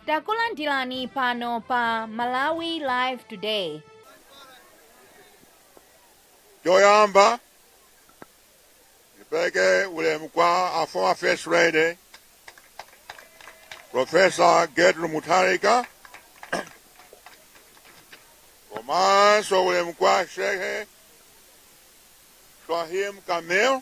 Takulandirani pano pa Malawi Live Today. Choyamba nipeleke ulemu kwa our former first lady Professor Gertrude Mutharika komanso ulemu kwa Sheikh Swahim Kamil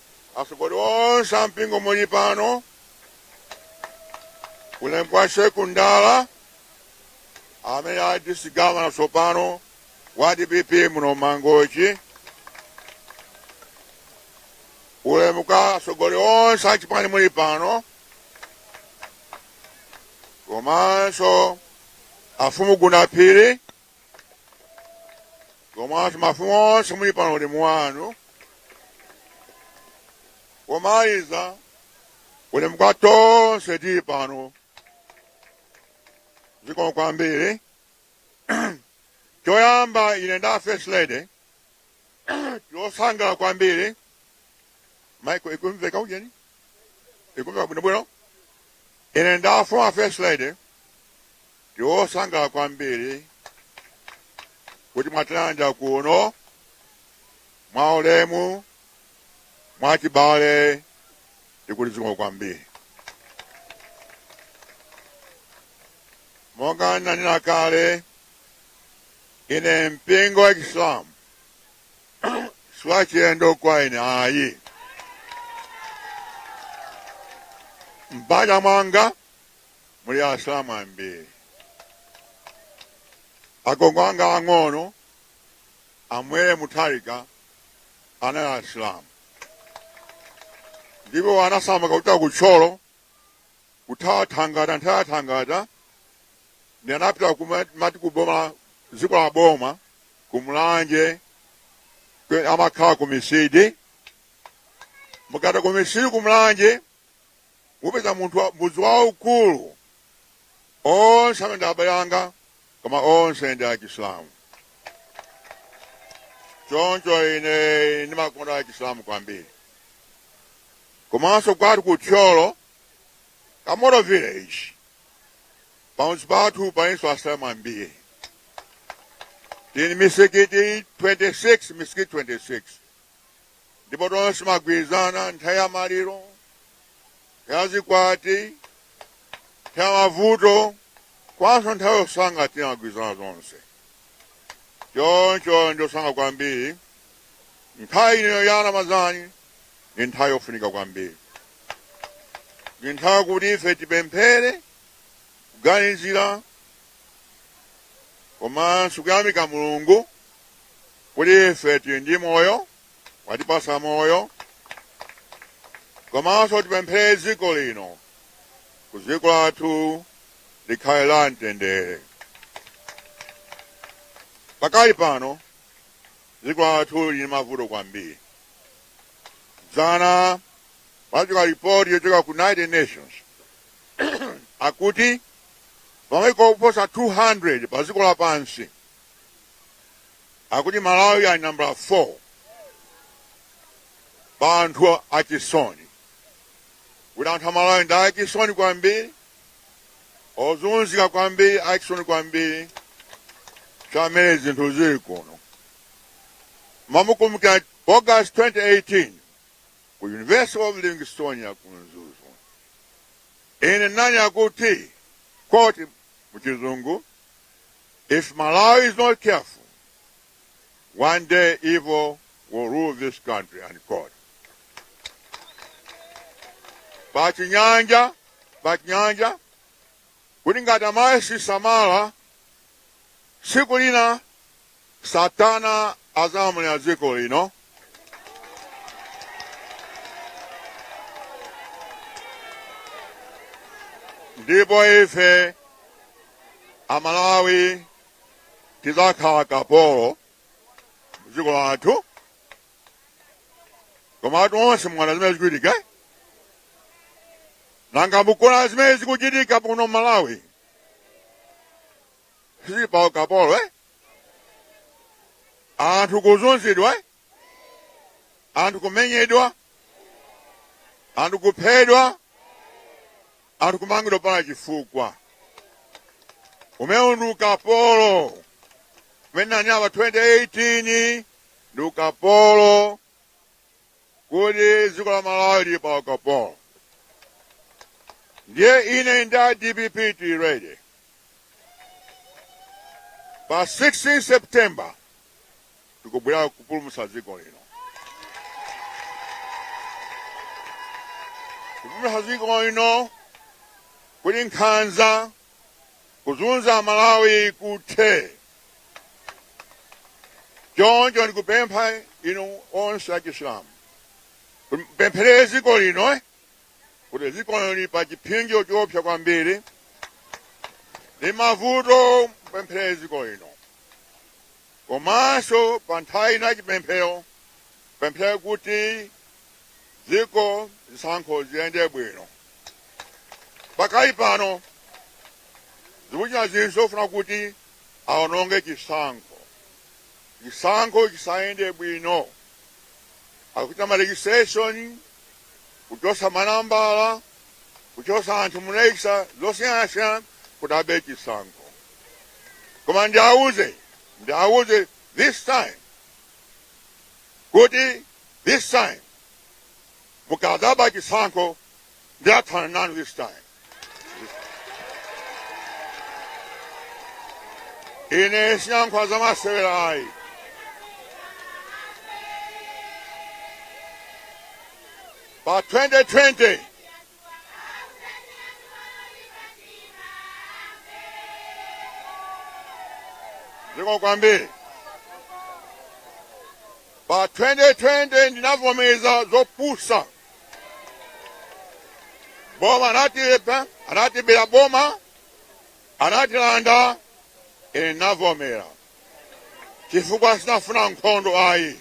Atsogoleri onse a mpingo muli pano, ulemu kwa Shehe Kundala amene ali district governor tsopano wa dpp muno Mangochi, ulemu kwa atsogoleri onse a chipani muli pano komanso afumu Gunaphiri komanso mafumu onse muli pano ulemu wanu komaliza ulemu kwa tonse tili pano zikomo kwambiri choyamba ine nda first lady tili osangala kwambiri maiko ikumveka ujeni ikumveka bwinobwino ine nda former first lady tili osangala kwambiri kuti mwatilandira kuno mwa ulemu mwa chibale tikuti zikomo kwambiri monga nanena kale ine mpingo wa chisilamu siwachilendo kwa ine ayi m'banja mwanga muli asilamu ambiri agogo anga ang'ono amwere mutharika anali asilamu ndipo anasamuka kuchokera ku thyolo kuthawa thangata kuthawa thangata ndiye anapita kumati kuboma dziko la boma kumulanje kwe- amakhala kumisidi mukapita kumisidi kumulanje mupeza munthu wa- mudzi waukulu onse amene ndi abale anga koma onse ndi achisilamu choncho ine ndimakonda achisilamu kwambiri komanso kwathu ku thyolo kamoto village pamudzi pathu palinso asilamu ambiri tili ndi misikiti 26 misikiti 26 ndipo tonse timagwirizana nthawi ya maliro nthawi ya zikwati nthawi ya mavuto komanso nthawi yosangalala timagwirizana zonse choncho ndasangalala kwambiri nthawi ino ya ramadhani ndi nthawi yofunika kwambiri ndi nthawi kuti ife tipemphere kuganizira komanso kuyamika mulungu kuti ife tili ndi moyo watipasa moyo komanso tipemphere dziko lino kuti dziko lathu likhale la mtendere pakali pano dziko lathu lili m'mavuto kwambiri dzana patuluka ripoti yochoka ku united nations akuti pa maiko oposa 200 pa dziko lapansi akuti malawi ali nambala 4 pa anthu achisoni kuti anthu amalawi ndi achisoni kwambiri ozunzika kwambiri achisoni kwambiri chifukwa cha mmene zinthu zili kuno mwina mukukumbukira august 2018 ku university of livingstonia ku mzuzu ine ndinanena kuti koti muchizungu If Malawi is not careful, one day evil will rule this country unquote. Pachinyanja, pachinyanja, kuti ngati amalawi sasamala, tsiku lina Satana azalamulira dziko lino. ndipo ife amalawi tizakhala akapolo m'dziko lathu kumwa athu onse mwaona zimene zikuchitika nanga mukuona zimene zikuchitika kuno malawi tili pa ukapolo eh? anthu kuzunzidwa eh? anthu kumenyedwa anthu kuphedwa anthu kumangidwa popanda chifukwa umenewu ndi ukapolo umene ndinanena 2018 ndi ukapolo kuti dziko la Malawi lili pa ukapolo. Ndiye ine ndi a dpp tili ready. Pa 16 September tikubwera kupulumutsa dziko lino. Kupulumutsa dziko lino kuti nkhanza kuzunza amalawi kuthe choncho ndikupempha inu onse achisilamu mupempherere dziko lino kuti dziko lino lili pa chipsinjo choopsa kwambiri ndi mavuto mupempherere dziko lino komanso pa nthawi ino yachipemphero mupempherere kuti dziko zisankho ziyende bwino. Pakali pano zikuchitika zinthu zofuna kuti aononge chisankho, chisankho chisayende bwino. Akuchita ma registration, kuchosa manambala, kuchosa anthu mu register zosiyanasiyana kuti abe chisankho. Koma ndiauze, ndiauze this time kuti this time mukadzaba chisankho ndiyathana nanu this time ine sinyankhula za masewera ayi pa 2020 ziko kwambiri pa 2020 ndinavomeza zopusa boma anati anatibira boma anatilanda ine ndinavomera chifukwa sinafuna nkhondo ayi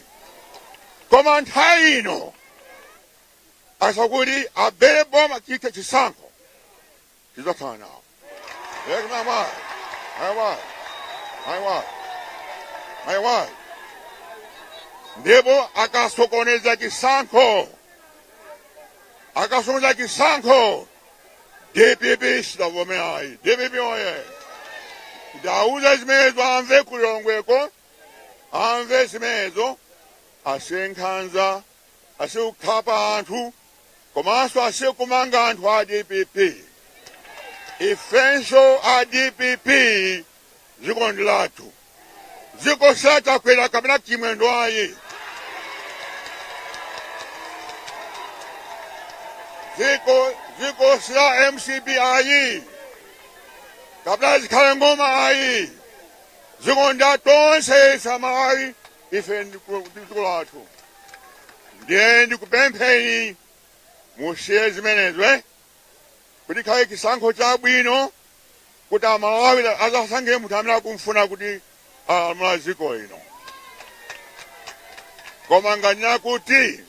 koma nthawi ino asati abere boma chite chisankho tidzathana nawo aiwa ndipo akasokoneza chisankho akasokoneza chisankho dpp sidzavomera ayi dpp oye ndauza zimenezo amve ku Lilongweko amve zimenezo asiye nkhanza asiye kukhapa anthu komanso asiye kumanga anthu a dpp ifenso a dpp dziko ndi lathu dziko si la chakwera kapena chimwendo ayi dziko dziko si la mcp ayi kapena zikhale ng'oma ayi dziko ndi la tonse ife amalawi ife ndi dziko lathu ndiye ndikupempheni musiye zimenezo eh? kuti pakhale chisankho chabwino kuti amalawi azasankhe munthu amene akumfuna kuti alamula dziko lino koma ngati n'kuti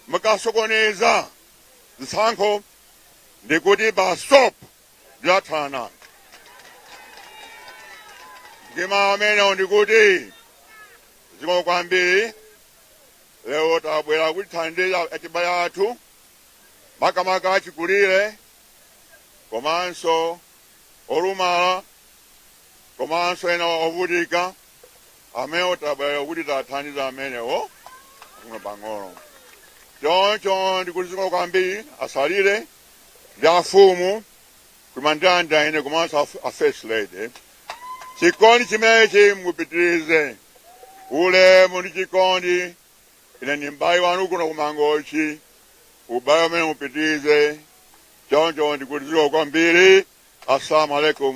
mukasokoneza zisankho ndikuti basopo ndiyathana ndi mawu amenewo ndikuti zikomo kwambiri lero tabwera kuti tithandize achibale athu makamaka achikulire komanso olumala komanso ena ovutika amene tabwera kuti tithandize amenewo pang'ono choncho ndikuti zikomo kwambiri asalire ndi afumu kumandanda ine komanso a first lady chikondi chimenechi mupitirize ulemu ndi chikondi ine ndi m'bale wanu kuno kumangochi ubale umene mupitirize choncho ndikuti zikomo kwambiri assalamu alaikum